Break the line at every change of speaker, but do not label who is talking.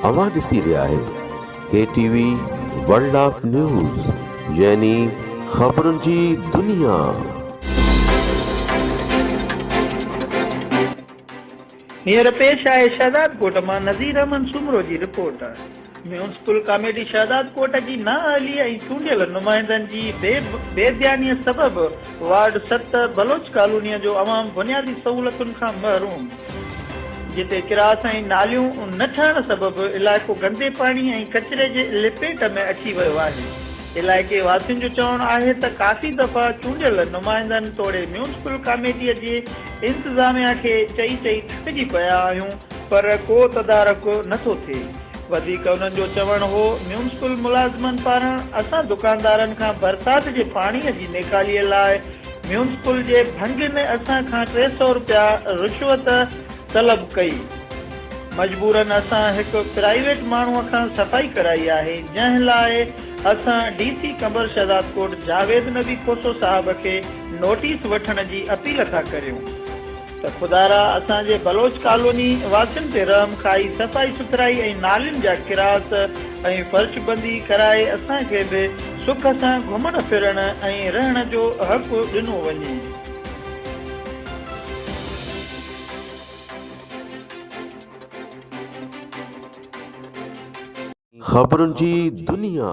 اوهان ڏسي رهيا آهيو K T V world of news يعني خبرن جي دنيا. هينئر پيش آهي
شهدادڪوٽ مان نذير احمد سومرو جي رپورٽ. ميونسپل ڪاميٽي شهدادڪوٽ جي نااهلي ۽ چونڊيل نمائندن جي بي ڌيانيء سبب وارڊ ست بلوچ ڪالونيء جو عوام بنيادي سهولتن کان محروم، جتي ڪراس ۽ ناليون نه ٺهڻ سبب علائقو گندي پاڻي ۽ ڪچري جي لپيٽ ۾ اچي ويو آهي، علائقي واسين جو چوڻ آهي ته ڪافي دفعا چونڊيل نمائندن توڙي ميونسپل ڪاميٽيء جي انتظاميا کي چئي چئي ٿڪجي پيا آهيون پر ڪو تدارڪ نه ٿو ٿئي وڌيڪ انهن جو چوڻ هو ميونسپل ملازمن پاران اسان دڪاندارن کان برسات جي پاڻي جي نيڪالي لاء ميونسپل جي ڀنگ ۾ اسان کان ٽي سئو رپيا رشوت طلب ڪئي مجبورن اسان هڪ پرائيويٽ ماڻهو کان صفائي ڪرائي آهي جنهن لاء اسان ڊي سي قمبر شهدادڪوٽ جاويد نبي کوسو صاحب کي نوٽيس وٺڻ جي اپيل ٿا ڪريون ته خدارا اسان جي بلوچ ڪالوني واسين تي رحم کائي صفائي سٿرائي ۽ نالين جا ڪراس ۽ فرش بندي ڪرائي اسان کي به سک سان گهمڻ ڦرڻ ۽ رهڻ جو حق ڏنو وڃي.
خبرن جي دنيا.